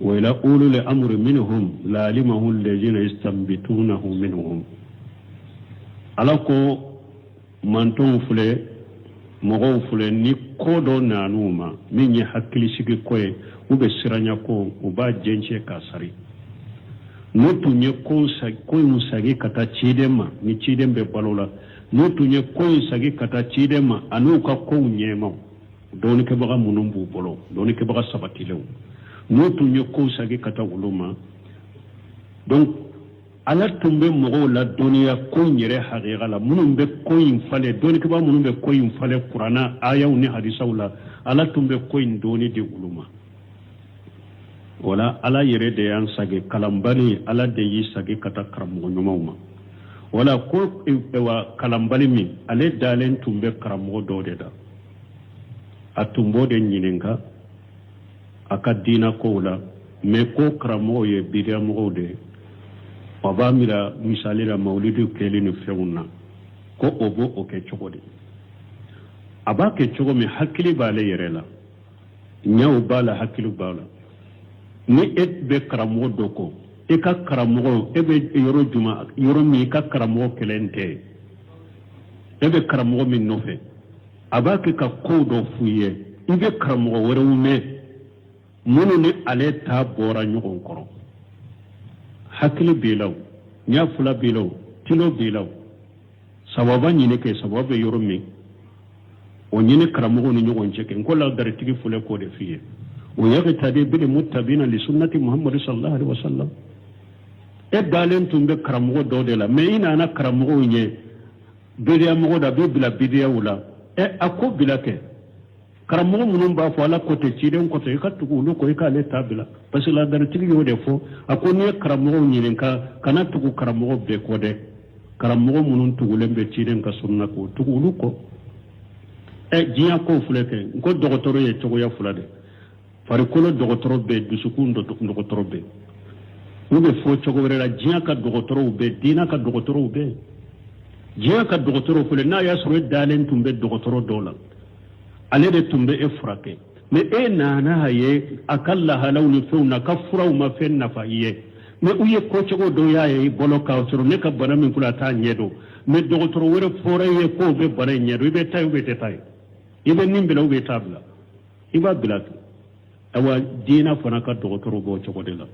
wa ila ulul amri minhum la alimahu alladhina yastanbitunahu minhum ala ko mantonw filɛ mɔgɔw filɛ ni ko dɔ nan'u ma min ye hakilisigi ko ye ou bien siranya ko u b'a jɛncɛ k'a sari n'u tun ye ko in sagi ka taa ciden ma ni ciden bɛ balo la n'u tun ye ko in sagi ka taa ciden ma an'u ka kow ɲɛmaw dɔɔnikɛbaga minnu b'u bolo dɔɔnikɛbaga sabatilenw n'u tun ye ko in sagi ka taa olu ma donc ala tun bɛ mɔgɔw ladɔnniya ko in yɛrɛ hakika la minnu bɛ ko in falen dɔɔnikɛbaga minnu bɛ ko in falen kurana ayaw ni hadisaw la ala tun bɛ ko in dɔɔni di olu ma wala ala yɛrɛ de y'an sage kalanbali ala de y'i sage ka taa karamɔgɔ ɲumanw ma wala ko eh, wa kalanbali min ale dalen tun bɛ karamɔgɔ dɔw de da a tun b'o de ɲininka a ka diinɛ kow la mɛ ko karamɔgɔw ye bidamɔgɔw de ye a b'a mira misali la mawulidu kɛli ni fɛnw na ko o b'o o kɛ cogo di a b'a kɛ cogo min hakili b'ale yɛrɛ la ɲɛw b'a la hakili b'a la ni e bɛ karamɔgɔ dɔ kɔ e ka karamɔgɔ e bɛ yɔrɔ juma yɔrɔ min i ka karamɔgɔ kelen tɛ yen e bɛ karamɔgɔ min nɔfɛ a b'a kɛ ka ko dɔ f'u ye i bɛ karamɔgɔ wɛrɛw mɛn minnu ni ale ta bɔra ɲɔgɔn kɔrɔ hakili b'i la o ɲɛ fila b'i la o tilo b'i la o sababa ɲini kɛ sababa bɛ yɔrɔ min o ɲini karamɔgɔw ni ɲɔgɔn cɛ kɛ n ko ladaritigi fɔlɔ k'o de f'i ye wa yaqtadi bil muttabi'ina li sunnati muhammadu sallallahu alaihi wasallam e dalen tun bɛ karamɔgɔ dɔw de la mɛ i nana karamɔgɔ in ye bidaya mɔgɔ don a b'i bila bidayaw la ɛ a ko bila kɛ karamɔgɔ minnu b'a fɔ ala ko ten ciden ko ten i ka tugu olu kɔ i k'ale ta bila parce que ladaritigi y'o de fɔ a ko n'i ye karamɔgɔw ɲininka kana tugu karamɔgɔ bɛɛ kɔ dɛ karamɔgɔ minnu tugulen bɛ ciden ka sunna kɔ tugu olu kɔ ɛ diɲɛ kow filɛ kɛ n ko dɔgɔtɔrɔ ye cogoya fila de farikolo dɔgɔtɔrɔ bɛ yen dusukun dɔgɔtɔrɔ bɛ yen ou bien a fɔ cogo wɛrɛ la diɲɛ ka dɔgɔtɔrɔw bɛ yen diinɛ ka dɔgɔtɔrɔw bɛ yen diɲɛ ka dɔgɔtɔrɔw filɛ n'a y'a sɔrɔ e dalen tun bɛ dɔgɔtɔrɔ dɔ la ale de tun bɛ e furakɛ mɛ e nana a ye a ka lahalaw ni fɛnw na a ka furaw ma fɛn nafa i ye mɛ u ye ko cogo dɔw y'a ye i bolo k'a sɔrɔ ne ka bana min kɔnɔ a t'a ɲɛ dɔn mɛ dɔgɔtɔrɔ wɛrɛ fɔr'i ye k'o bɛ bana in ɲɛ dɔn i bɛ taa ou bien i tɛ taa yen i bɛ nin bila ou bien i t'a bila i b'a bila to ayiwa diinɛ fana ka dɔgɔtɔrɔ b'o cogo de la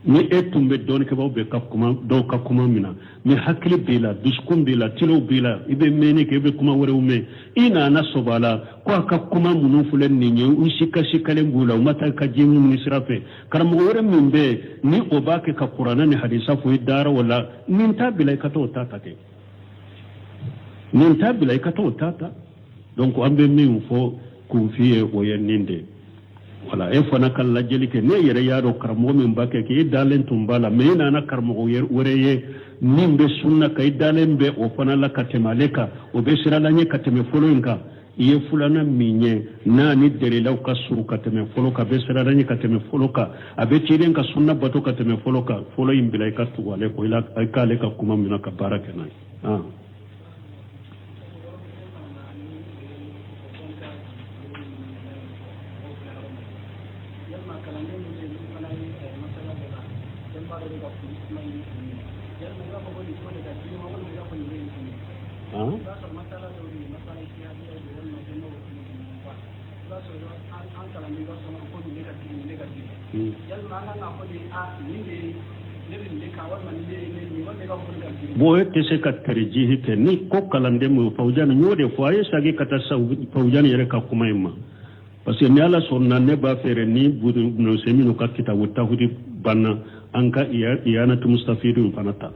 ni e tun bɛ dɔɔnikɛbaa bɛɛ ka kuma dɔw ka kuma mina ni hakili b'i la dusukun b'i la tilo b'i la i bɛ mɛnni kɛ i bɛ kuma wɛrɛw mɛn i nana sɔb'a la ko a ka kuma minnu filɛ nin ye u sikasikalen b'u la u ma taa ka ji minnu sira fɛ karamɔgɔ wɛrɛ min bɛ yen ni o b'a kɛ ka kuranɛ ni hadisa fɔ i dara o la nin ta bila i ka t'o ta ta kɛ nin ta bila i ka t'o ta ta donc an bɛ min fɔ kunfin ye o ye nin de wala e fana ka lajɛli kɛ ne yɛrɛ y'a dɔn karamɔgɔ min b'a kɛ k'e dalen tun b'a la mɛ e nana karamɔgɔ wɛrɛ ye min bɛ sunna kan i dalen bɛ o fana la ka tɛmɛ ale kan o bɛ siran ala ɲɛ ka tɛmɛ fɔlɔ in kan i ye fulanan min ye n'a ni delilaw ka surun ka tɛmɛ fɔlɔ kan a bɛ siran ala ɲɛ ka tɛmɛ fɔlɔ kan a bɛ ciden ka sunna bato ka tɛmɛ fɔlɔ kan fɔlɔ in bila i ka tugu ale kɔ i k'ale ka kuma mina ka baara kɛ n'a ye ah. Bon e tɛ se ka tarjihi kɛ ni ko kalanden ma fawjan y'o de fɔ a ye sagi ka taa sa fawjan yɛrɛ ka kuma in ma parce que ni ala sɔnna ne b'a fɛ ni bunu semini ka kitabu tawhidi banna an ka iyanatu mustafidu fana ta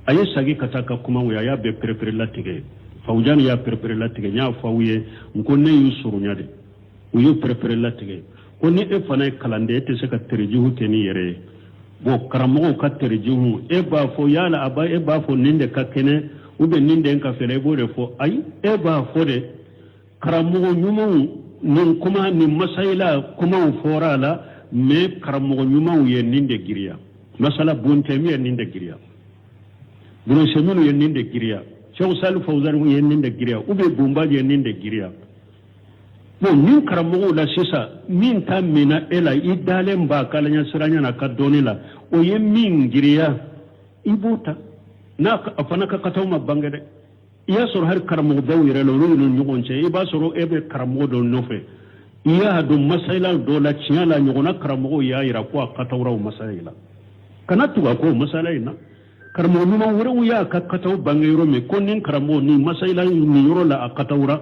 a ye sagi ka taa a ka kuma a y'a bɛɛ perepere latigɛ fawjan y'a perepere latigɛ n y'a fɔ aw ye n ko ne y'u surunya de u y'u perepere latigɛ ko ni e fana ye kalanden e tɛ se ka tarjihu kɛ n'i yɛrɛ ye bɔn karamɔgɔw ka tarjihu e b'a fɔ yala a ba e b'a fɔ nin de ka kɛnɛ ou bien nin de ka fɛɛrɛ e b'o de fɔ ayi e b'a fɔ de karamɔgɔ ɲumanw nin kuma nin masayila kuma fɔra a la mɛ karamɔgɔ ɲumanw ye nin de giriya masalan bunu tayimiya ye nin de giriya bunu semini ye nin de giriya sɛku sali fawuzan ye nin de giriya ou bien bunu bazi ye nin de giriya bon nin karamɔgɔw la sisan min ta minna e la i dalen b'a k'ala ɲasiranya n'a ka dɔnni la o ye min giriya i b'o ta n'a a fana ka kataw ma bange dɛ i y'a sɔrɔ hali karamɔgɔbaw yɛrɛ la olu ni ɲɔgɔn cɛ i b'a sɔrɔ e bɛ karamɔgɔ dɔ nɔfɛ i y'a dɔn masayila dɔ la tiɲɛ la a ɲɔgɔnna karamɔgɔw y'a yira ko a katawuraw masayila la kana tugu a kɔ masala in na karamɔgɔ ɲuman wɛrɛw y'a ka kataw bange yɔrɔ min ko nin karamɔgɔ nin masayila nin yɔrɔ la a katawura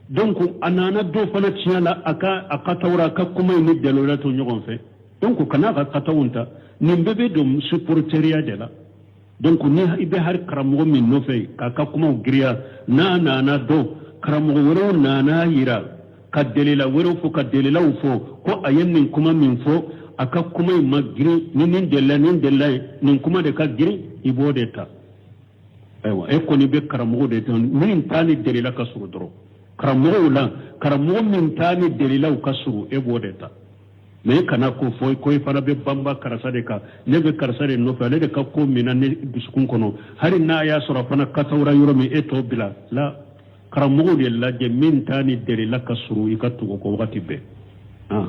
donc a nana dɔn fana tiɲɛ la a ka a katawura a ka kuma in ni delila tɛ ɲɔgɔn fɛ donc kana a ka kataw ta nin bɛɛ bɛ don supporteriya de la donc ni i bɛ hali karamɔgɔ min nɔfɛ k'a ka kumaw giriya n'a nana dɔn karamɔgɔ wɛrɛw nana a yira ka delila wɛrɛw fɔ ka delilaw fɔ ko a ye nin kuma min fɔ a ka kuma in ma girin ni nin delila nin delila ye nin kuma de ka girin i b'o de ta ayiwa e kɔni bɛ karamɔgɔ de dɔn min ta ni delila ka surun dɔrɔn karamɔgɔw la karamɔgɔ min ta ni delilaw ka surun e b'o de ta mais i kana ko fɔ ko i fana bɛ banba karisa de kan ne bɛ karisa de nɔfɛ ale de ka ko min na ne dusukun kɔnɔ hali n'a y'a sɔrɔ a fana kasawura yɔrɔ min e t'o bila la karamɔgɔ de lajɛ min ta ni dalilu ka surun i ka tugu o kɔ wagati bɛɛ ah.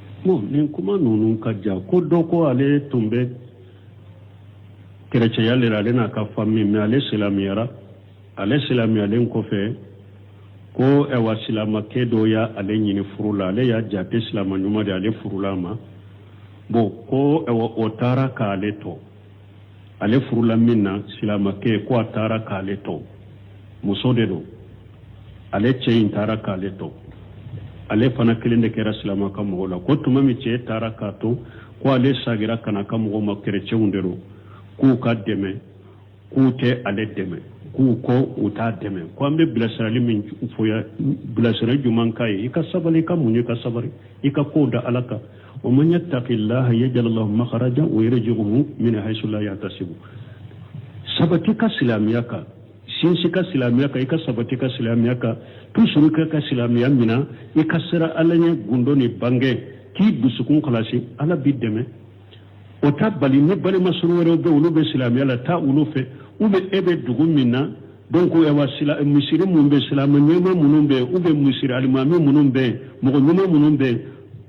bon nin kuma ninnu ka jan ko dɔ ko ale tun bɛ kɛrɛcɛya le la ale n'a ka fami mais ale silamɛyara ale silamɛyalen kɔfɛ ko ɛwa silamakɛ dɔ ye ale ɲini furu la ale y'a jate silama ɲuman de ale furula a ma bon ko ɛwa o taara k'ale to ale furula min na silamakɛ ko a taara k'ale to muso de don ale cɛ in taara k'ale to ale fana kelen de kɛra silama a ka mɔgɔw la ko tuma min cɛ taara k'a to ko ale sagira ka na a ka mɔgɔw ma kɛrɛcɛw de don k'u k'a dɛmɛ k'u tɛ ale dɛmɛ k'u ko u t'a dɛmɛ ko an bɛ bilasirali min fɔ a ye bilasirali juman k'a ye i ka sabali i ka muɲu i ka sabari i ka kow da ala kan wa man yattaqillaha yaj'al lahu makhrajan wa yarzuqhu min haythu la yahtasib sabati i ka silamɛya kan sinsin i ka silamɛya kan i ka sabati i ka silamɛya kan toujours k'i ka silamɛya mina i ka siran ala ɲɛ gundo ni bange k'i dusukun kalasi ala b'i dɛmɛ o t'a bali ni balima surun wɛrɛw bɛ olu bɛ silamɛya la taa olu fɛ u bɛ e bɛ dugu min na Donc misiri minnu bɛ silamɛ ɲuman minnu bɛ u bɛ misiri alimami minnu bɛ mɔgɔ ɲuman minnu bɛ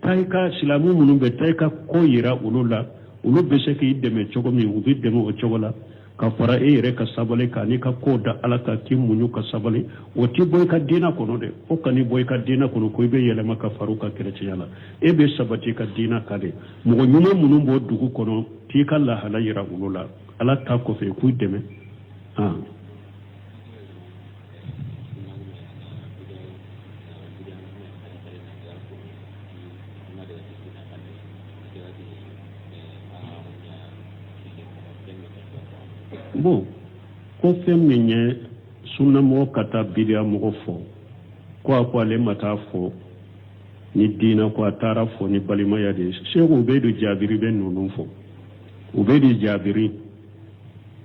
taa i ka silamɛ minnu bɛ taa i ka ko jira olu la olu bɛ se k'i dɛmɛ cogo min u b'i dɛmɛ o cogo la ka fara e yɛrɛ ka sabali kan n'i ka ko da ala kan k'i muɲu ka sabali o t'i bɔ i ka diinɛ kɔnɔ dɛ o kan'i bɔ i ka diinɛ kɔnɔ ko i bɛ yɛlɛma ka fara u ka kɛrɛcɛya la e bɛ sabati i ka diinɛ kan de mɔgɔ ɲuman minnu b'o dugu kɔnɔ k'i ka lahala jira olu la ala ta kɔfɛ k'u dɛmɛ bon ko fɛn min ye sunnamɔgɔ ka taa bidiya mɔgɔ fo ko a ko ale ma taa a fo ni diina ko a taara a fo ni balimaya de ye seku ubaydu jaabiri bɛ ninnu fɔ ubaydu jaabiri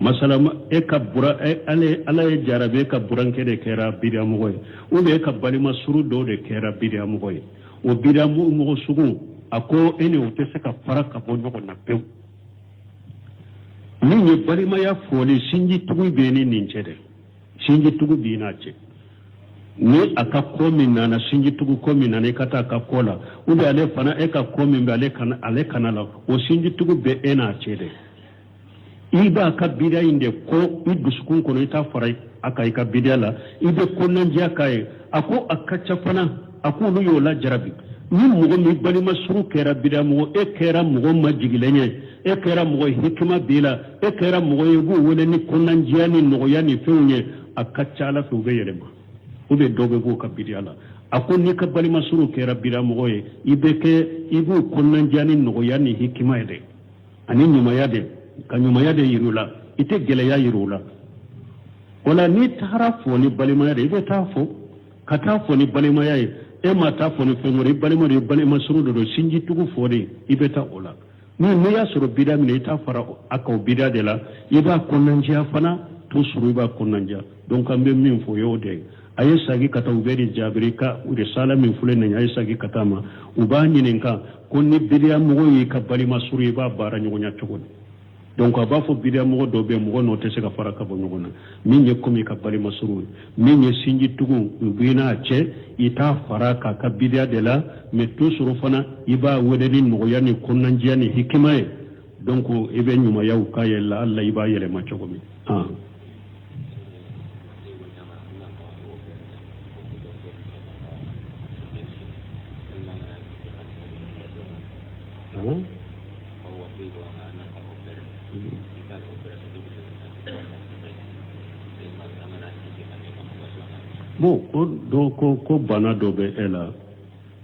masala e ka buran e, ala y'i jarabi e ka burankɛ de kɛra bidamɔgɔ ye ou bien e ka balima surun dɔw de kɛra bidamɔgɔ ye o bidamɔgɔ sugu a ko e ni o tɛ se ka fara ka bɔ ɲɔgɔn na pewu min ye balimaya foli sinji tugu bɛ e ni nin cɛ dɛ sinji tugu b'i n'a cɛ ni a ka ko min nana sinji tugu ko min nana i ka taa a ka ko la ou bien ale fana e ka ko min bɛ ale ka na ale ka na a la o sinji tugu bɛ e n'a cɛ dɛ i b'a ka bidiya in de kɔn i dusukun kɔnɔ i t'a fara a ka i ka bidiya la i bɛ kɔnɔnajɛya k'a ye a ko a ka ca fana a ko olu y'o lajarabi ni mɔgɔ min balima suru kɛra bidiya mɔgɔ e kɛra mɔgɔ majigilen ye e kɛra mɔgɔ hikima b'i la e kɛra mɔgɔ ye b'o wele ni kɔnɔnajɛya ni nɔgɔya ni fɛnw ye a ka ca ala fɛ u bɛ yɛlɛma u bɛ dɔ bɛ b'o ka bidiya la a ko n'i ka balima suru kɛra bidiya mɔgɔ ye i bɛ kɛ i b'o kɔnɔnajɛya ni nɔgɔya ni hikima ye dɛ ani ɲumanya de ka ɲumanya de yir'u la i tɛ gɛlɛya yir'u la wala n'i taara fo ni balimaya de i bɛ taa fo ka taa fo ni balimaya ye e ma taa fo ni fɛn wɛrɛ i balima don i balima suru de don sinji tugu fo de i bɛ taa o la n'o n'i y'a sɔrɔ bida minɛ i t'a fara a ka bida de la i b'a kɔnɔnajɛya fana to sɔrɔ i b'a kɔnɔnajɛya donc an bɛ min fɔ y'o de a ye sagi ka taa ubeyidi jaabiri ka risala min filɛ nin a ye sagi ka taa ma u b'a ɲininka ko ni bidiya mɔgɔ y'i ka balima suru i b'a baara ɲɔgɔnya cogo di donc a b'a fɔ bidiya mɔgɔ dɔ bɛ mɔgɔ n'o tɛ se ka fara ka bɔ ɲɔgɔn na min ye komi i ka balima suru min ye sinjitugu b'i n'a cɛ i t'a fara k'a ka bidiya de la mais to sɔrɔ fana i b'a wele ni nɔgɔya ni kɔnɔnajɛya ni hikima ye Donc i bɛ ɲumanyaw k'a ye laala i b'a yɛlɛma cogo min bon ko don ko ko bana dɔ bɛ e la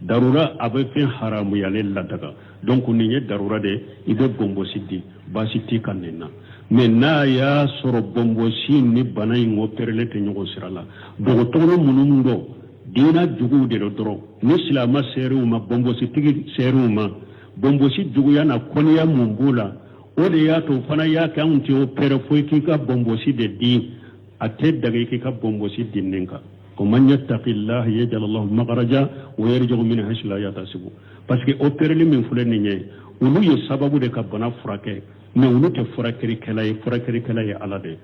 darura a bɛ fɛn haramuyalen ladaga donc nin ye darura de ye i bɛ bɔnbɔsi di baasi t'i kan nin na mais n'a y'a sɔrɔ bɔnbɔsi ni bana in opereli tɛ ɲɔgɔn sira la dɔgɔtɔrɔ minnu don diina juguw de don dɔrɔn ni silama ser'u ma bɔnbɔsitigi ser'u ma bɔnbɔsi juguya n'a kɔniya min b'u la o de y'a to fana y'a kɛ anw t'i opere fo i k'i ka bɔnbɔsi de di a tɛ daga k'i ka bɔnbɔsi di nin kan wa man yattaqillaha yajal lahu makhraja wa yarzuqhu min haythu la yahtasibu parce que opereli min filɛ nin ye olu ye sababu de ka bana furakɛ mais olu tɛ furakɛlikɛla ye furakɛlikɛla ye ala de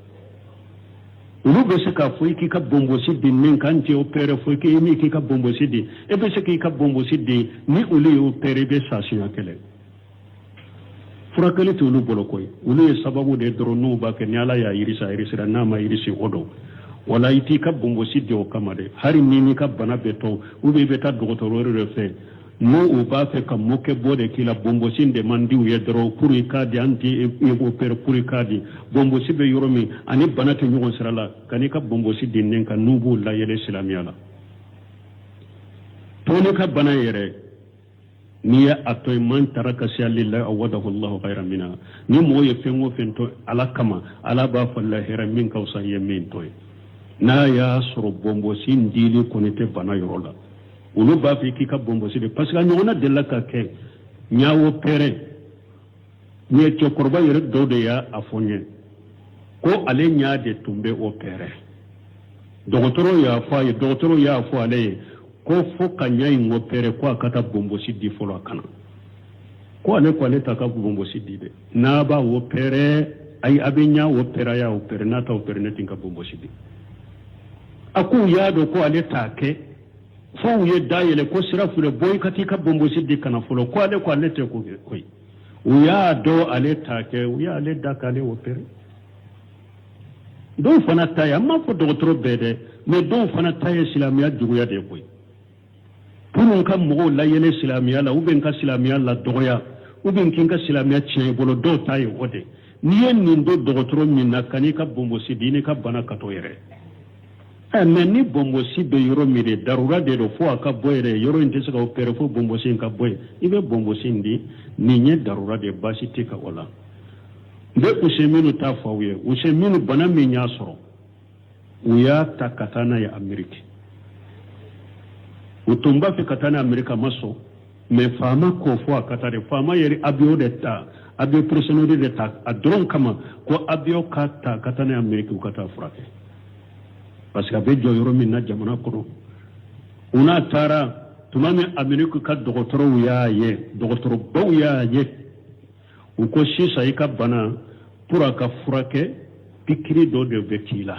olu bɛ se k'a fɔ i k'i ka bonbosi di min k'an t'i opere fo i k'i min k'i ka bonbosi di e bɛ se k'i ka bonbosi di ni olu y'i opere i bɛ sa siɲɛ kelen furakɛli tɛ olu bolo koyi olu ye sababu de dɔrɔn u b'a kɛ ni ala y'a yirisi a yirisira n'a ma yirisi o don wala i t'i ka bonbosi di o kama dɛ hali ni n'i ka bana bɛ to u bɛ i bɛ taa dɔgɔtɔrɔ wɛrɛ de fɛ n'o u b'a fɛ ka mɔkɛ bɔ de k'i la bonbosi de man di u ye dɔrɔn fo i k'a di an t'i opere fo i k'a di bonbosi bɛ yɔrɔ min ani bana tɛ ɲɔgɔn sira la kan'i ka bonbosi di nin kan n'u b'u layɛlɛ silamɛya la to ne ka bana yɛrɛ n'i ye a to yen man taraka shayan lillahi awadahu llahu khayran minha ni mɔgɔ ye fɛn o fɛn to ala kama ala b'a falen hɛra min ka fisa i ye min to ye n'a y'a sɔrɔ bɔnbɔsi dili kɔni tɛ bana yɔrɔ la olu b'a fɔ k'i ka bɔnbɔsi di parce que a ɲɔgɔnna delila ka kɛ ɲa opere nin ye cɛkɔrɔba yɛrɛ dɔ de y'a fɔ n ye ko ale ɲa de tun bɛ opere dɔgɔtɔrɔw y'a fɔ a ye dɔgɔtɔrɔw y'a fɔ ale ye ko fo ka ɲa in opere ko a ka taa bonbosi di fɔlɔ a ka na ko ale ko ale t'a ka bonbosi di dɛ n'a b'a opere ayi a bɛ ɲa opere a y'a opere n'a t'a opere ne tɛ n ka bonbosi di a ko u y'a dɔn ko ale t'a kɛ fo u ye da yɛlɛ ko sira filɛ bɔ i ka taa i ka bonbosi di ka na fɔlɔ ko ale ko ale tɛ ko kɛ koyi u y'a dɔn ale t'a kɛ u y'ale da k'ale opere dɔw fana ta ye an m'a fɔ dɔgɔtɔrɔ bɛɛ dɛ mɛ dɔw fana ta ye silamɛya juguya de ye koyi pour u ka mɔgɔw layɛlɛ silamɛya la ou bien ka silamɛya ladɔgɔya ou bien k'i ka silamɛya tiɲɛ i bolo dɔw ta ye o de n'i ye nin dɔn dɔgɔtɔrɔ min na kan'i ka bonbosi di n'i ka bana ka to yɛrɛ Eh, mɛ ni bɔnbɔsi bɛ yɔrɔ min de darura de don fo a ka bɔ yɛrɛ yɔrɔ in tɛ se ka opere fo bɔnbɔsi in ka bɔ yen i bɛ bɔnbɔsi in di nin ye darura de baasi tɛ ka o la n bɛ useyiminu ta fɔ aw ye useyiminu bana min y'a sɔrɔ u y'a ta ka taa n'a ye ameriki u tun b'a fɛ ka taa n'a ameriki a ma sɔn mɛ faama ko fo a ka taa de faama yɛrɛ avion de ta avion personnel de ta a dɔrɔn kama ko avion k'a ta ka taa n'a ye ameriki u ka taa furakɛ parce que a bɛ jɔ yɔrɔ min na jamana kɔnɔ u n'a taara tuma min ameriki ka dɔgɔtɔrɔw y'a ye dɔgɔtɔrɔbaw y'a ye u ko sisan i ka bana pour a ka furakɛ pikiri dɔ de bɛ k'i la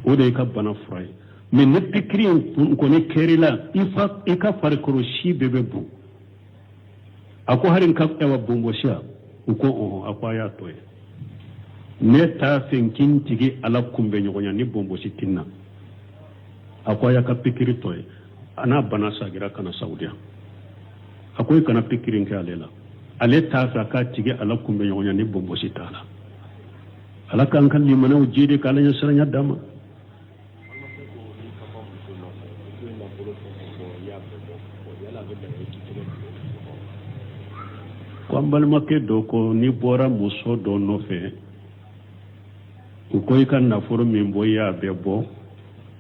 o de y'i ka bana fura ye mɛ ni pikiri in kɔni kɛr'i la i ka farikolo si bɛɛ bɛ bon a ko hali n ka bonbɔsi ya u ko ɔhɔn a ko a y'a to yen ne t'a fɛ n ka n tigi ala kunbɛ ɲɔgɔnya ni bonbɔsi tɛ n na a ko a y'a ka pikiri to yen a n'a bana sagira ka na saudiya a ko i kana pikiri in kɛ ale la ale t'a fɛ a k'a tigi ala kunbɛ ɲɔgɔnya ni bɔnbɔsi t'a la ala k'an ka limanaw jiidi k'ala ɲɛsiranya d'an ma ko an balimakɛ dɔ ko n'i bɔra muso dɔ nɔfɛ u ko i ka nafolo min bɔ i y'a bɛɛ bɔ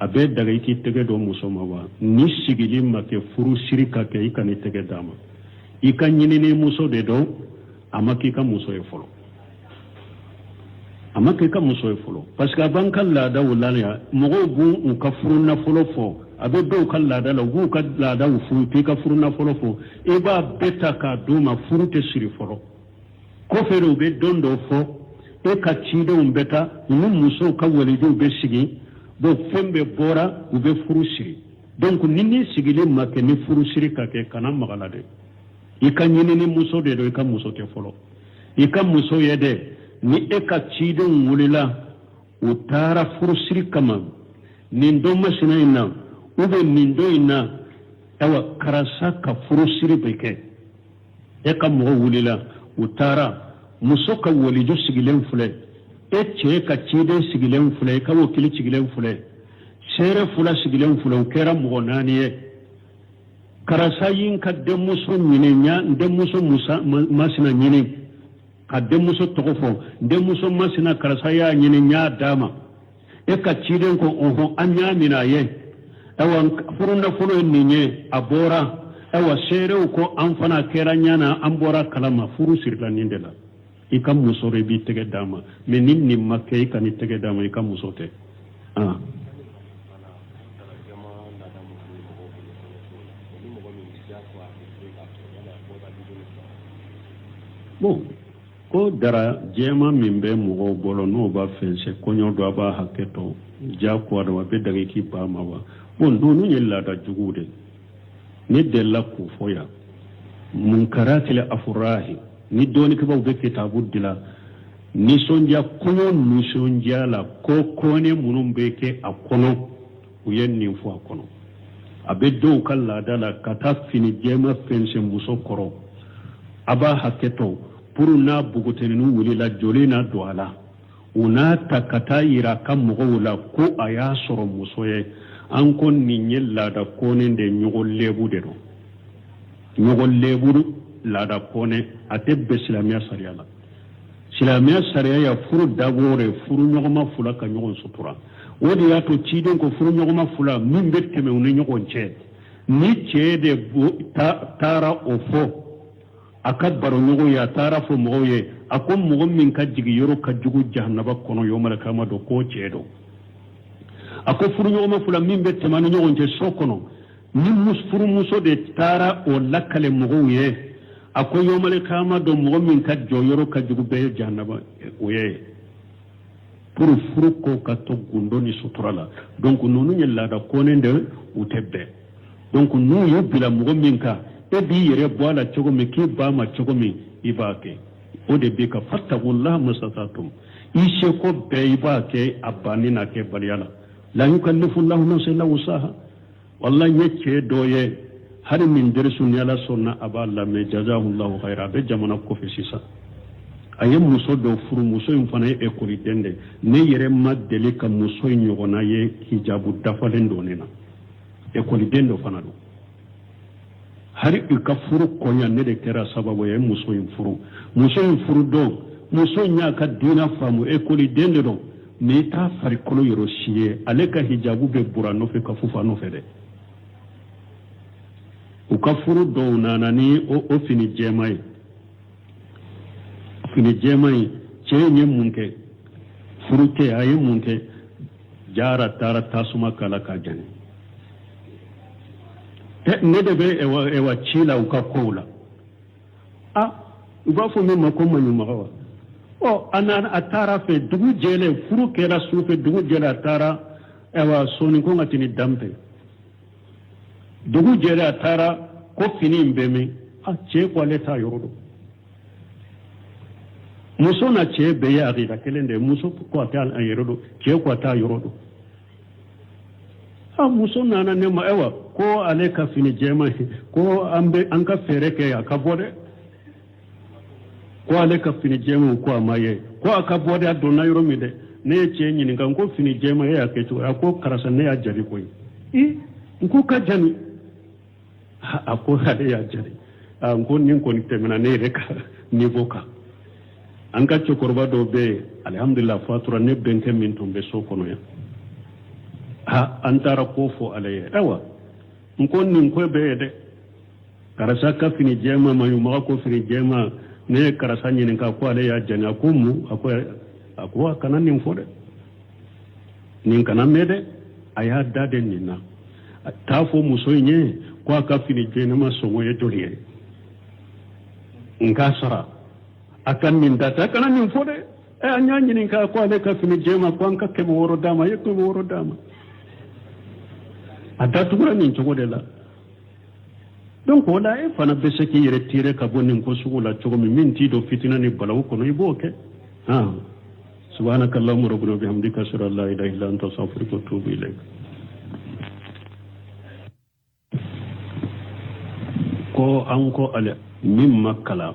a bɛ daga i k'i tɛgɛ don muso ma wa ni sigili ma kɛ furu siri ka kɛ i kan'i tɛgɛ d'a ma i ka ɲinini muso de don a ma k'i ka muso ye fɔlɔ a ma k'i ka muso ye fɔlɔ parce que a b'an ka laadaw la yan mɔgɔw b'u ka furu nafolo fɔ a bɛ dɔw ka laada la u b'u ka laadaw furu k'i ka furu nafolo fɔ i b'a bɛɛ ta k'a d'u ma furu tɛ siri fɔlɔ kɔfɛ de u bɛ don dɔ fɔ e ka cidenw bɛ taa u ni musow ka walijuw bɛ sigi donc fɛn bɛɛ bɔra u bɛ furu siri donc ni ni sigili ma kɛ ni furu siri ka kɛ kana maga a la dɛ i ka ɲinini muso de don i ka muso tɛ fɔlɔ i ka muso ye dɛ ni e ka cidenw wulila u taara furu siri kama nin don masina in na ou bien nin don in na awa karisa ka furusiri bɛ kɛ e ka mɔgɔ wulila u taara muso ka waliju sigilen filɛ e cɛ ka ciden sigilen filɛ i ka wakili sigilen filɛ seere fula sigilen filɛ u kɛra mɔgɔ naani ye karisa ye n ka denmuso ɲini a ye n denmuso masina ɲini ka denmuso tɔgɔ fɔ n denmuso masina karisa y'a ɲini n y'a d'a ma e ka ciden ko ohun an y'a minɛ a ye ayiwa furunafolo ye nin ye a bɔra ayiwa seerew ko an fana a kɛr'an ɲɛ na an bɔr'a kalama furu sirila nin de la i ka muso de i b'i tɛgɛ d'a ma mais ni nin ma kɛ i kan'i tɛgɛ d'a ma i ka muso tɛ ah. bon ko dara jɛman min bɛ mɔgɔw bolo n'u b'a fɛnsɛn kɔɲɔ don a b'a hakɛ to jagoya don a bɛ daga i k'i ban a ma wa bon ninnu ye laada juguw de ne delila k'o fɔ yan munkaratil afurahi ni dɔnnikɛbaaw bɛ kitabu dilan nisɔndiya kɔɲɔ nisɔndiya la ko kɔnnen minnu bɛ kɛ a kɔnɔ u ye nin fɔ a kɔnɔ a bɛ dɔw ka laada la ka taa fini jɛman fɛnsɛn muso kɔrɔ a b'a hakɛ to pour n'a npogotininw wulila joli na don a la u n'a ta ka taa yira a ka mɔgɔw la ko a y'a sɔrɔ muso ye an ko nin ye laada kɔnnen de ɲɔgɔn lebu de don ɲɔgɔn lebu laada kɔnnen a tɛ bɛn silamɛya sariya la silamɛya sariya ye furu dabɔ de furu ɲɔgɔnma fula ka ɲɔgɔn sutura o de y'a to ciden ko furu ɲɔgɔnma fula min bɛ tɛmɛ u ni ɲɔgɔn cɛ ni cɛ de taara o fɔ a ka baroɲɔgɔn ye a taara fɔ mɔgɔw ye a ko mɔgɔ min ka jigin yɔrɔ ka jugu jahanaba kɔnɔ yawmal kiyama don k'o cɛ don a ko furu ɲɔgɔnma fula min bɛ tɛmɛ ni ɲɔgɔn cɛ so kɔnɔ ni furumuso de taara o lakale mɔgɔw ye a ko yawmal kiyama don mɔgɔ min ka jɔyɔrɔ ka jugu bɛɛ ye jahanama o ye pour furu ko ka to gundo ni sutura la donc ninnu ye laada kɔni de u tɛ bɛn donc n'u y'u bila mɔgɔ min kan e b'i yɛrɛ bɔ a la cogo min k'i ban a ma cogo min i b'a kɛ o de bɛ ko fattaqullaha mastata'tum i seko bɛɛ i b'a kɛ a banni n'a kɛbaliya la la yukallifu lahu nafsan illa wusaha wallahi n ye cɛ dɔ ye hali min derisu ni ala sɔnna a b'a lamɛn jazahullahu khayran a bɛ jamana kɔfɛ sisan a ye muso dɔ furu muso in fana ye ekɔliden de ne yɛrɛ ma deli ka muso in ɲɔgɔnna ye hijabu dafalen donnen na ekɔliden dɔ fana don hali u ka furu koɲa ne de kɛra sababu ye muso in furu muso in furu don muso in y'a ka diina faamu ekɔliden de don mais i t'a farikolo yɔrɔ si ye ale ka hijabu bɛ bura nɔfɛ ka fofo a nɔfɛ dɛ u ka furu don u nana ni o, o fini jɛma ye fini jɛman in cɛ in ye mun kɛ furu kɛ a ye mun kɛ jara taara tasuma k'a la k'a jani ne de bɛ ɛwa ci la u ka kow la a u b'a fɔ min ma ko maɲumaga wa ɔ a na a taara fɛ dugu jɛlen furu kɛra su fɛ dugu jɛlen a taara ɛwa sɔɔni ko ka tini danbe dugu jɛra a taara ko fini in bɛ min a cɛ ko ale t'a yɔrɔ dɔn muso n'a cɛ bɛɛ ye akida kelen de ye muso ko a t'a yɔrɔ dɔn cɛ ko a t'a yɔrɔ dɔn a muso nana ne ma ayiwa ko ale ka fini jɛman ko an bɛ an ka fɛɛrɛ kɛ a ka bɔ dɛ ko ale ka fini jɛman ko a ma ye ko a ka bɔ dɛ a donna yɔrɔ min dɛ ne ye cɛ ɲininka n ko fini jɛma e y'a kɛ cogo a ko karisa ne y'a jani koyi i n ko ka jani a ko ale y'a jani n ko nin kɔni tɛmɛna ne yɛrɛ ka niveau kan an ka cɛkɔrɔba dɔ bɛ yen alihamudulila a fatura ne bɛnkɛ min tun bɛ so kɔnɔ yan ha an taara k'o fɔ ale ye ayiwa n ko nin ko bɛ yen dɛ karisa ka fini jɛma maɲumaga ko fini jɛma ne ye karisa ɲininka ko ale y'a jani a ko mun a ko a ko a kana nin fɔ dɛ nin kana mɛn dɛ a y'a da dɛ nin na t'a fɔ muso in ye ko a ka fini jɛman sɔngɔ ye joli ye n k'a sara a ka nin da ta a kana nin fɔ dɛ ɛ an y'a ɲininka ko ale ka fini jɛma ko an ka kɛmɛ wɔɔrɔ d'a ma a ye kɛmɛ wɔɔrɔ d'a ma a datugura nin cogo de la donc o la e fana bɛ se k'i yɛrɛ tirer ka bɔ nin ko sugu la cogo min min t'i don fitinɛ ni balaw kɔnɔ i b'o kɛ subhanaka allahumma rabbana bihamdika ashhadu an la ilaha illa anta astaghfiruka wa atubu ilayk ko an ko ale min ma kalan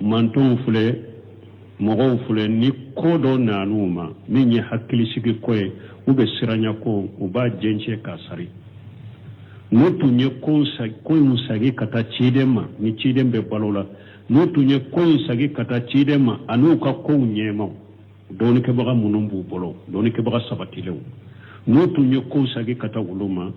mantonw filɛ mɔgɔw filɛ ni ko dɔ nana u ma min ye hakilisigi ko ye ou bien siranya ko u b'a jɛncɛ k'a sari n'u tun ye ko in sagi ka taa ciden ma ni ciden bɛ balo la n'u tun ye ko in sagi ka taa ciden ma ani u ka kow ɲɛmaaw dɔnnikɛbaga minnu b'u bolo dɔnnikɛbaga sabatilenw n'u tun ye ko sagi ka taa olu ma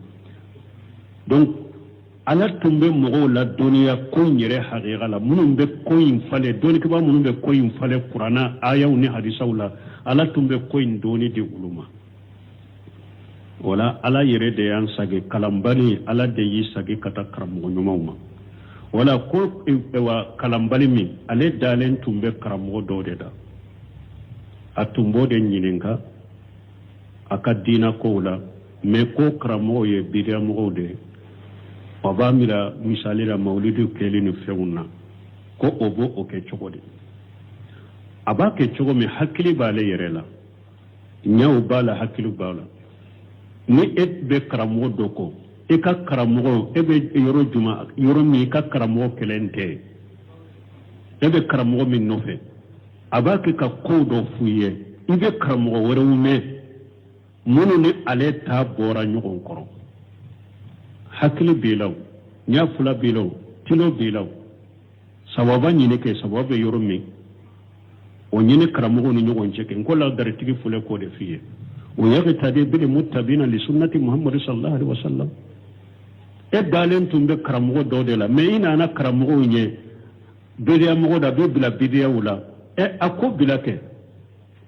ala tun bɛ mɔgɔw ladɔnniya ko in yɛrɛ hakika la minnu bɛ ko in falen dɔnnikɛbaa minnu bɛ ko in falen kuranna ayaw ni hadisaw la ala tun bɛ ko in dɔnni di olu ma o la ala yɛrɛ de y'an sagi kalanbali ala de y'i sagi ka taa karamɔgɔ ɲumanw ma o la ko e, e, wa kalanbali min ale dalen tun bɛ karamɔgɔ dɔ de da a tun b'o de ɲininka a ka diina kow la mais ko karamɔgɔ o ye bidiyamɔgɔ de ye a b'a mira misali la mawulidu kɛli ni fɛnw na ko o b'o o kɛ cogo de a b'a kɛ cogo min hakili b'ale yɛrɛ la ɲɛw b'a la hakili b'a la ni e bɛ karamɔgɔ dɔ kɔ e ka karamɔgɔ e bɛ yɔrɔ juma yɔrɔ min i ka karamɔgɔ kelen tɛ e bɛ karamɔgɔ min nɔfɛ a b'a kɛ ka ko dɔ f'u ye i bɛ karamɔgɔ wɛrɛw mɛn minnu ni ale ta bɔra ɲɔgɔn kɔrɔ hakili b'i la o ɲɛ fila b'i la o tilo b'i la o sababa ɲini kɛ sababa bɛ yɔrɔ min o ɲini karamɔgɔw ni ɲɔgɔn cɛ kɛ n ko ladaritigi filɛ k'o de f'i ye wa yaqtadi bil muttabi'ina li sunnati muhammadu sallallahu alaihi wasallam e dalen tun bɛ karamɔgɔ dɔ de la mais i nana karamɔgɔ o ye bidiyamɔgɔ de a b'i bila bidiyaw la ɛ a k'o bila kɛ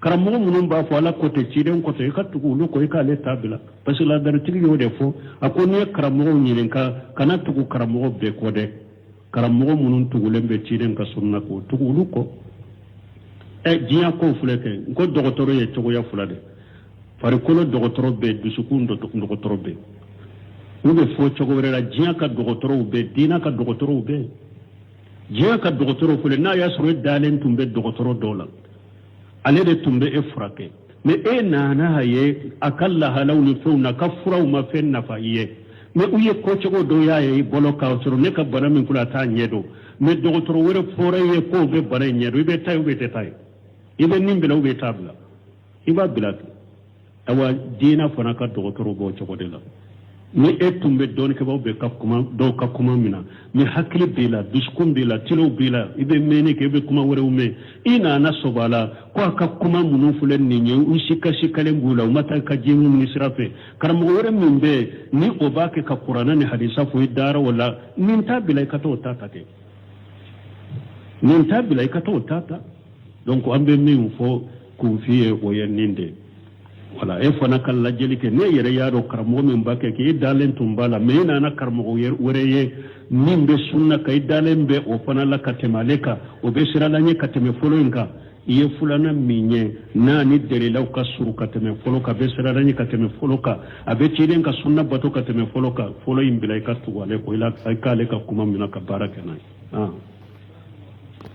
karamɔgɔ minnu b'a fɔ ala ko ten ciden ko ten i ka tugu olu kɔ i k'ale ta bila parce que ladaritigi y'o de fɔ a ko n'i ye karamɔgɔw ɲininka kana tugu karamɔgɔ bɛɛ kɔ dɛ karamɔgɔ minnu tugulen bɛ ciden ka sunna kɔ tugu olu kɔ ɛ e, diɲɛ kow filɛ kɛ n ko dɔgɔtɔrɔ ye cogoya fila de farikolo dɔgɔtɔrɔ bɛ dusukun dɔgɔtɔrɔ bɛ n'o bɛ fɔ cogo wɛrɛ la diɲɛ ka dɔgɔtɔrɔw bɛ diinɛ ka dɔgɔtɔrɔw bɛ diɲɛ ka dɔgɔtɔrɔw filɛ n'a y'a sɔrɔ e dalen tun bɛ dɔgɔtɔrɔ dɔ la ale de tun bɛ e furakɛ mais e nana a ye a ka lahalaw ni fɛnw na ka furaw ma fɛn nafa i ye mais u ye ko cogo dɔ y'a ye i bolo k'a sɔrɔ ne ka bana min ko la a t'a ɲɛ dɔn mais dɔgɔtɔrɔ wɛrɛ fɔra i ye k'o bɛ bana in ɲɛ dɔn i bɛ taa ye ou bien i tɛ taa ye i bɛ nin bila ou bien i t'a bila i b'a bila kɛ awa diinɛ fana ka dɔgɔtɔrɔ b'o cogo de la ni e tun bɛ dɔnnikɛbaaw bɛ ka kuma dɔw ka kuma minɛ na ni hakili b'i la dusukun b'i la tulow b'i la i bɛ mɛnni kɛ i bɛ kuma wɛrɛw mɛn i nana sɔbɔ a la ko a ka kuma minnu filɛ nin ye u sikasikalen b'u la u ma taa ka diɲɛ ɲini sira fɛ karamɔgɔ wɛrɛ min bɛ yen ni o b'a kɛ ka kuranɛ ni hadisa fɔ i dara o la nin ta bila i ka taa o ta ta kɛ nin ta bila i ka taa o ta ta donc an bɛ min fɔ K'u f'i ye o ye nin de wala e fana ka lajɛli kɛ ne yɛrɛ y'a dɔn karamɔgɔ min b'a kɛ k'e dalen tun b'a la mais e nana karamɔgɔ wɛrɛ ye min bɛ sunna kan i dalen bɛ o fana la ka tɛmɛ ale kan o bɛ siran Ala ɲɛ ka tɛmɛ fɔlɔ in kan i ye filanan min ye n'a ni dalilaw ka surun ka tɛmɛ fɔlɔ kan a bɛ siran Ala ɲɛ ka tɛmɛ fɔlɔ kan a bɛ ciden ka sunna bato ka tɛmɛ fɔlɔ kan fɔlɔ in bila i ka tugu ale kɔ i k'ale ka kuma minɛ ka baara kɛ n'a ye